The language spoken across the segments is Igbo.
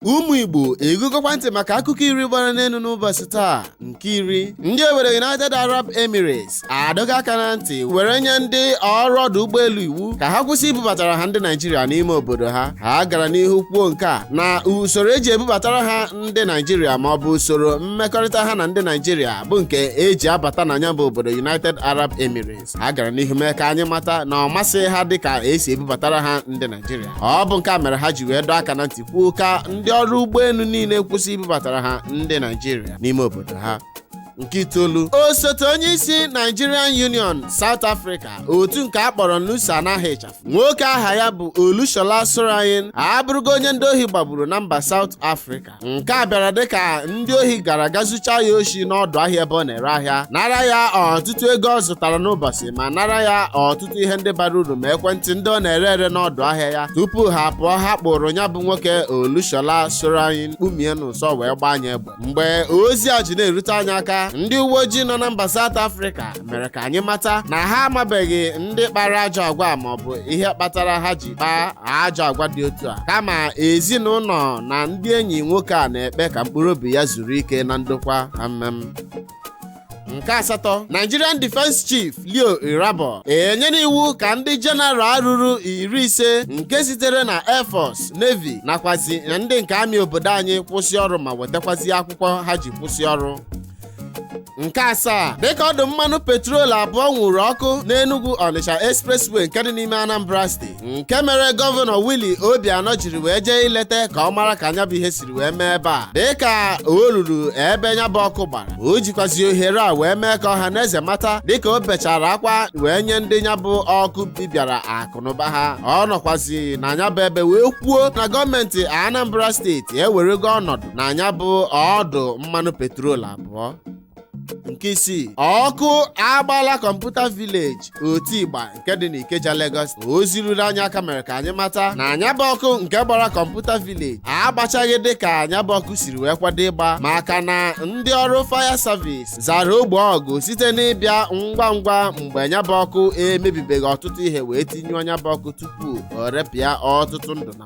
ụmụ igbo egegokwa ntị maka akụkọ iri gbara n'elu n'ụbọchị taa nke iri ndị obodo united arab emirates adọgo aka na ntị were nye ndị ọrụ ọdụ ụgbọelu iwu ka ha kwụsị ibubatara ha ndị naijiria n'ime obodo ha ha gara n'ihu kwuo nke a na usoro eji ebubatara ha ndị naijiria ma ọ bụ usoro mmekọrịta ha na ndị naijiria bụ nke eji abata na ya bụ obodo united arab emirates ha gara n'ihu mee ka anyị mata na ọ masịghị ha dị ka esi ebubatara ha ndị naijiria ọ bụ nke a mere ha ji wee dọọ aka na ntị kwuo ka ndị ọrụ ụgbọelu niile kwụsị ibubatara ha ndị naijiria n'ime obodo ha nke itoolu osote onye isi nigerian union south africa otu nke a kpọrọ nusa n'aha ịchafụ nwoke aha ya bụ olushola solarin abụrụgo onye ndị ohi gbagburu na mba south africa nke a bịara dịka ndị ohi gara ga zuchaa ya oshi n'ọdụ ahịa ebe ọ na-ere ahịa nara ya ọtụtụ ego ọ zụtara n'ụbọchị ma nara ya ọtụtụ ihe ndị bara uru ma ekwentị ndị ọ na-ere ere n'ọdụ ahịa ya tupu ha pụọ ha kpụrụ ya bụ nwoke olushola Solarin kpụmie n'ụsọ wee gbaa nya egbe mgbe ozi a ji na-erute anyị aka ndị uwe ojii nọ na mba South Africa mere ka anyị mata na ha amabeghị ndị kpara ajọ agwa maọbụ ihe kpatara ha ji kpaa ajọ agwa dị otu a kama ezinụlọ na ndị enyi nwoke a na-ekpe ka mkpụrụ obi ya zuru ike na ndokwa amem nke asatọ Nigerian Defence Chief Leo Irabor enyela iwu ka ndị general ruru iri ise nke sitere na Air Force Navy nakwazi ndị nke Army obodo anyị kwụsị ọrụ ma wetakwazi akwụkwọ ha ji kwụsị ọrụ nke asaa dịka ọdụ mmanụ petrol abụọ nwụrụ ọkụ n'Enugu Onitsha expressway nke dị n'ime Anambra steeti nke mere gọvanọ Willie Obianọ jiri wee jee ileta ka ọ mara ka nya bụ ihe siri wee mee ebe a dịka o ruru ebe nya bụ ọkụ gbara o jikwazi ohere a wee mee ka ọha na eze mata dịka o bechara akwa wee nye ndị nya bụ ọkụ bibịara akụnụba ha ọ nọkwazi na nya bụ ebe wee kwuo na gọọmenti Anambra steeti ewerego ọnọdụ na nya bụ ọdụ mmanụ petrol abụọ nke isii ọkụ agbala Computer Village Otigba nke dị n'ikeja Lagos ozi ruru anyị aka mere ka anyị mata na nya bụ ọkụ nke gbara Computer Village agbachaghị dị ka nya bụ ọkụ siri wee kwado ịgba maka na ndị ọrụ fire service zara ogbo ọgụ site n'ịbịa ngwa ngwa mgbe nya bụ ọkụ emebibeghị ọtụtụ ihe wee tinyụọ nya bụ ọkụ tupu o repịa ọtụtụ ndụ na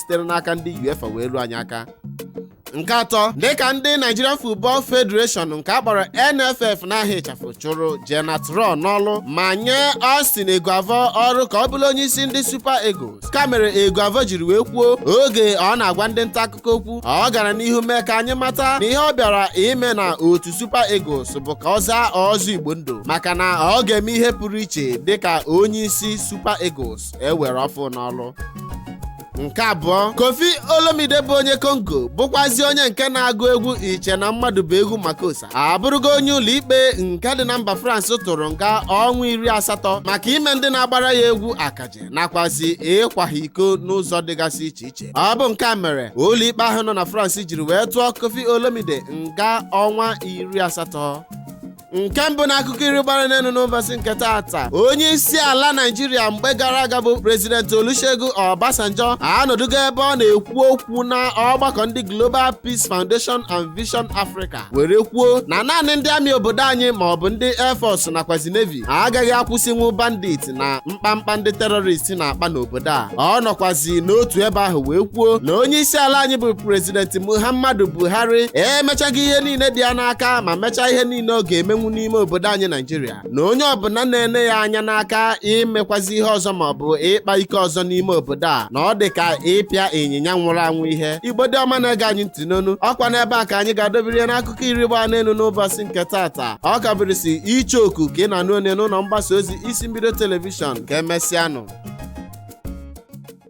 sitere n'aka ndị UEFA wee ruo anyị aka nke atọ dịka ndị Nigerian Football Federation nke a kpọrọ NFF n'aha ịchafụ chụrụ Gernot Rohr n'ọlụ ma nye Austin Eguavoen ọrụ ka ọ bụrụ onye isi ndị Super Eagles ka mere Eguavoen jiri wee kwuo oge ọ na-agwa ndị nta akụkọ okwu ọ gara n'ihu mee ka anyị mata na ihe ọ bịara ime na otu Super Eagles bụ ka ọ zaa ọzọ Igbo ndụ maka na ọ ga-eme ihe pụrụ iche dịka onye isi Super Eagles ewere ọfụ n'ọrụ nke abụọ koffi olomide bụ onye kongo bụkwazi onye nke na-agụ egwu iche na mmadụ bụ egwu makossa abụrụgo onye ụlọikpe nke dị na mba france tụrụ nga ọnwa iri asatọ maka ime ndị na-agbara ya egwu akaje nakwazi ịkwa ha iko n'ụzọ dịgasị iche iche ọ bụ nke a mere ụlọikpe ahụ nọ na france jiri wee tụọ koffi olomide nga ọnwa iri asatọ nke mbụ na akụkọ iri gbara n'enu n'ụbọsị nke taata onye isi ala naijiria mgbe gara aga bụ prezidenti olusegun obasanjo anọdụgo ebe ọ na-ekwu okwu na ọgbakọ ndị global peace foundation and vision africa were kwuo na naanị ndị amị obodo anyị ma ọ bụ ndị air force nakwazi navy agaghị akwụsịnwu bandit na mkpamkpa ndị terrorist na-akpa n'obodo a ọ nọkwazi n'otu ebe ahụ wee kwuo na onye isi ala anyị bụ prezidenti muhammadu buhari emechago ihe niile dị ya n'aka ma mechaa ihe niile ọ ga-emenwu n'ime obodo anyị naijiria na onye ọbụla na-ene ya anya n'aka imekwazi ihe ọzọ ma ọ bụ ịkpa ike ọzọ n'ime obodo a na ọ dị ka ịpịa ịnyịnya nwụrụ anwụ ihe igbo ndị ọma na-ege anyị ntị n'ụnọ ọkwa n'ebe a ka anyị ga-adobere ya n'akụkọ iri gbaa n'enu n'ụbọsị nke taata ọ ka bụrịsị icheoku ka ị na-anụ onu ya n'ụnọ mgbasa ozi isi mbido telivishọn ka emesịanụ